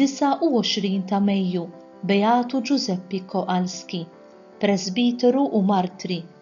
29 ta' Mejju, Beatu Ġużeppi Kowalski, presbiteru u martri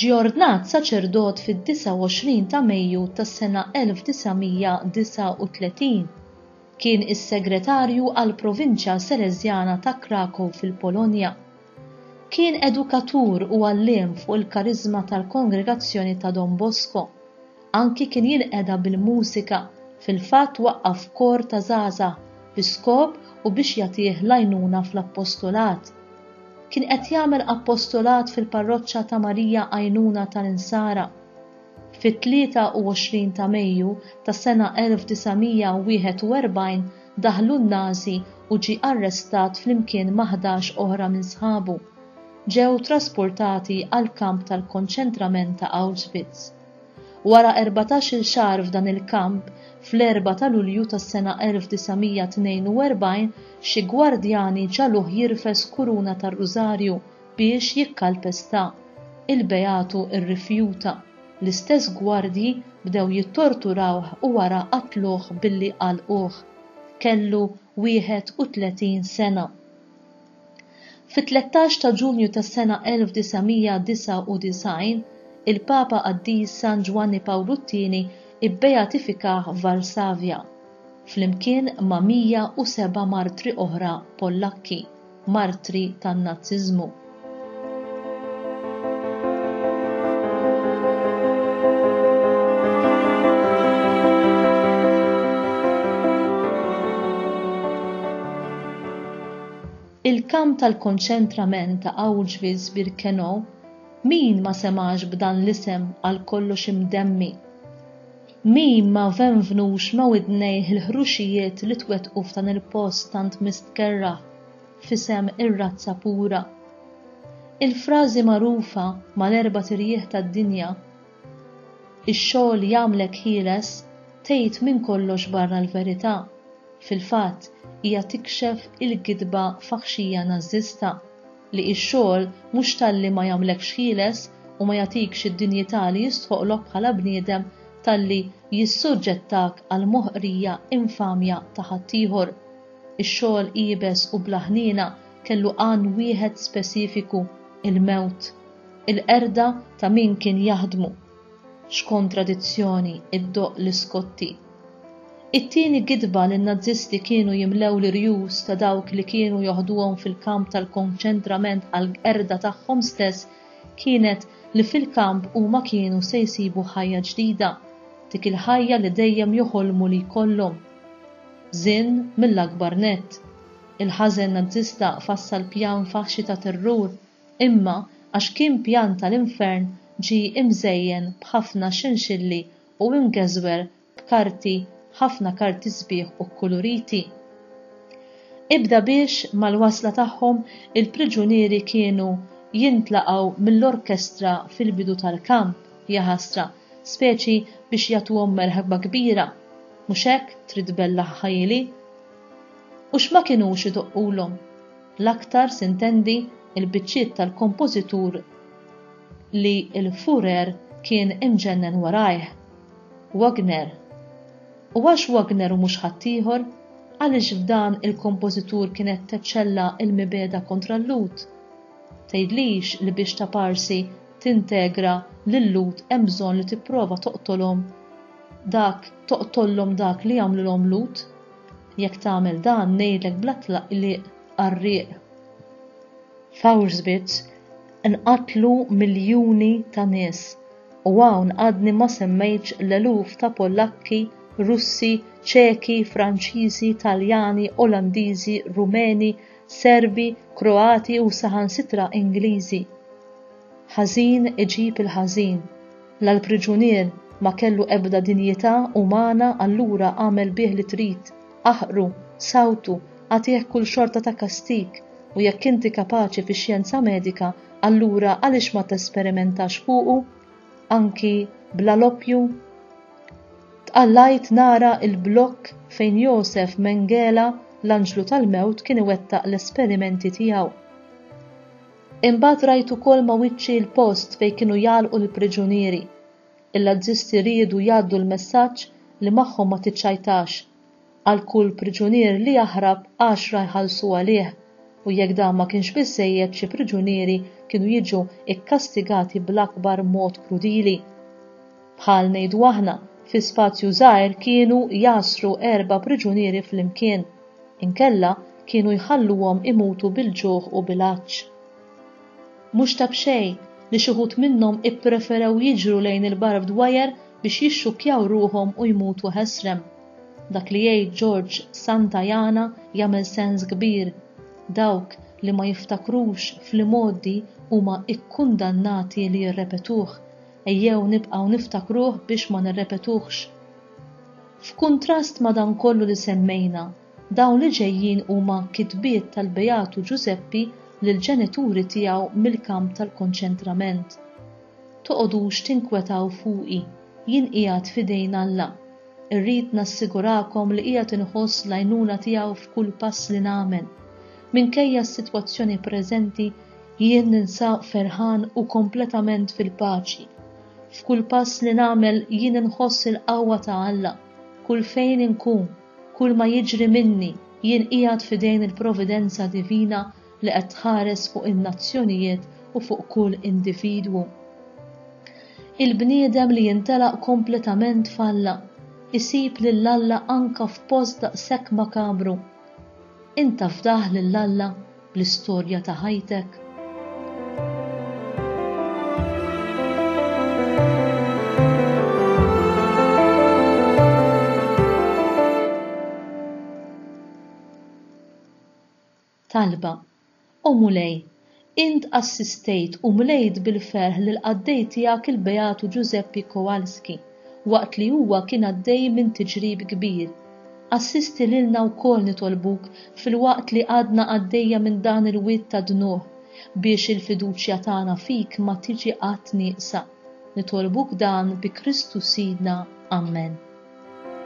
Ġie ordnat saċerdot fid-29 ta' Mejju tas-sena 1939. Kien is-segretarju għall-provinċja Seleżjana ta' Krakow fil-Polonja. Kien edukatur u għalliem fuq il-kariżma tal-Kongregazzjoni ta' Don Bosco. Anki kien jinqeda bil-mużika, fil-fatt waqqaf kor ta' żgħażagħ bi skop u biex jagħtih l-għajnuna fl-appostolat. Kien qed jagħmel appostolat fil-parroċċa ta' Marija Għajnuna tal-Insara. Fit-23 ta' Mejju tas-sena 1941 daħlu n-Nażi u ġie arrestat flimkien ma' ħdax oħra minn sħabu. Ġew trasportati għall-kamp tal-konċentrament ta' Auschwitz. Wara erbatax-il xahar f'dan il-kamp, fl-erbgħa ta' Lulju tas-sena 1942 xi gwardjani ġagħluh jirfes kuruna tar-rużarju biex jikkalpesta. Il-beatu rrifjuta. L-istess gwardji bdew jittorturawh u wara qatluh billi għalquh. Kellu 31 sena. Fit-13 ta' Ġunju tas-sena 1999, il-Papa Qaddis San Ġwanni Pawlu t-Tieni bbeatifikah f'Varsavja, flimkien ma' 107 martri oħra Pollakki, martri tan-Nazziżmu. Il-kamp tal-konċentrament ta' Auschwitz-Birkenau min ma semax b'dan l-isem għal kollox imdemmi. Min ma venvnux ma widnejh il-ħruxijiet li twettqu f'dan il-post tant mistkerra. f'isem ir-razza pura. Il-frażi magħrufa mal-erbat irjieħ tad-dinja, Ix-xogħol jagħmlek ħieles tgħid minn kollox barra l-verità, fil-fatt hija tikxef il-gidba faħxija Nażista li x-xogħol mhux talli ma jagħmlekx ħieles u ma jagħtikx id-dinjità li jistħoqlok bħala bniedem talli jissuġġettak għall-moħqrija infamja ta' ħaddieħor. Ix-xogħol iebes u bla ħniena kellu għan wieħed speċifiku, il-mewt. Il-qerda ta' min kien jaħdmu. X'kontradizzjoni, iddoqq Liscotti. It-tieni gidba li n-Nazisti kienu jimlew l-irjus ta' dawk li kienu joħduhom fil-kamp tal-konċentrament għall-qerda tagħhom stess kienet li fil-kamp huma kienu se jsibu ħajja ġdida, dik il-ħajja li dejjem joħolmu li jkollhom. Żinn mill-akbar nett. Il-ħażen Nazzista fassal pjan faħxi ta' terrur, imma għax kien pjan tal-infern ġie imżejjen b'ħafna xinxilli u imgeżwer b'karti, ħafna karti sbieħ u kkuluriti. Ibda biex, mal-wasla tagħhom, il-priġunieri kienu jintlaqgħu mill-orkestra fil-bidu tal-kamp, jaħasra, speċi biex jagħtuhom merħba kbira. Mhux hekk trid tbellaħ ħajili? U x'ma kinux idoqqulhom, l-aktar s'intendi l-biċċiet tal-kompożitur li l-Fuhrer kien imġennen warajh, Wagner. U għax Wagner u mhux ħaddieħor, għaliex f'dan il-kompożitur kienet teċċella l-mibegħda kontra l-Lhud? Tgħidlix li biex taparsi tintegra lil-Lhud hemm bżonn li tipprova toqtolhom? dak toqtollhom dak li jagħmlulhom Lut, jekk tagħmel dan ngħidlek bla tlaqliq qarrieq f'Auschwitz nqatlu miljuni ta' nies u hawn għadni ma semmejtx l-eluf ta' Polakki, Russi, Ċeki, Franċiżi, Taljani, Olandiżi, Rumeni, Serbi, Kroati u saħansitra Ingliżi. Ħażin iġib il-ħażin. La l-priġunier ma kellu ebda dinjità umana allura agħmel bih li trid, aħqru, sawtu, agħtih kull xorta ta' kastig, u jekk inti kapaċi fix-xjenza medika allura għaliex ma tesperimentax fuqu anki bla l-oppju? Tqallajt nara l-blokk fejn Josef Mengele, l-anġlu tal-mewt kien iwettaq l-esperimenti tiegħu. Imbagħad rajt ukoll ma' wiċċi l-post fejn kienu jgħallqu l-priġunieri. Il-Lazzisti riedu jgħaddu l-messaġġ li magħhom ma tiċċajtax. Għal kull priġunier li jaħrab għaxra jħallsu għalih u jekk dan ma kienx biżżejjed xi priġunieri kienu jiġu kkastigati bl-akbar mod krudili. Bħal ngħidu aħna, fi spazju żgħir kienu jgħassru erba' priġunieri flimkien. Inkella kienu jħalluhom imutu bil-ġuħ u bil-għatx. Mhux ta' b'xejn li xi wħud minnhom ippreferew jiġru lejn il-barbed wire biex jixxukkjaw ruħhom u jmutu ħesrem. Dak li jgħid George Santayana jagħmel sens kbir, dawk li ma jiftakrux fl-imgħoddi huma kkundannati li jirrepetuh. Ejjew nibqgħu niftakruh biex ma nirrepetuhx. F'kuntrast ma' dan kollu li semmejna, dawn li ġejjin huma kitbiet tal-Beatu Ġużeppi lill-ġenituri tiegħu mill-kamp tal-konċentrament, Toqogħdux tinkwetaw fuqi, jien qiegħed f'idejn Alla. Irrid nassigurakom li qiegħed inħoss l-għajnuna tiegħu f'kull pass li nagħmel. Minkejja s-sitwazzjoni preżenti, Jien ninsab ferħan u kompletament fil-paċi. F'kull pass li nagħmel jien inħoss il-qawwa ta' Alla. Kull fejn inkun, kull ma jiġri minni, jien qiegħed f'idejn il-providenza divina li qed tħares fuq in-nazzjonijiet u fuq kull individwu. Il-bniedem li jintelaq kompletament f'Alla, isib lil Alla anke f'post daqshekk makabru. Int taf daħ lil Alla? bl-istorja ta' ħajtek? Talba, O Mulej, int assistejt u mlejt bil-ferħ lill-qaddej tiegħek il-Beatu Ġużeppi Kowalski. waqt li huwa kien għaddej minn tiġrib kbir. Assisti lilna wkoll nitolbuk filwaqt li għadna għaddejja minn dan il-wied ta' dnugħ biex il-fiduċja tagħna fik ma tiġi qatt nieqsa. Nitolbuk dan bi Kristu Sidna. Amen.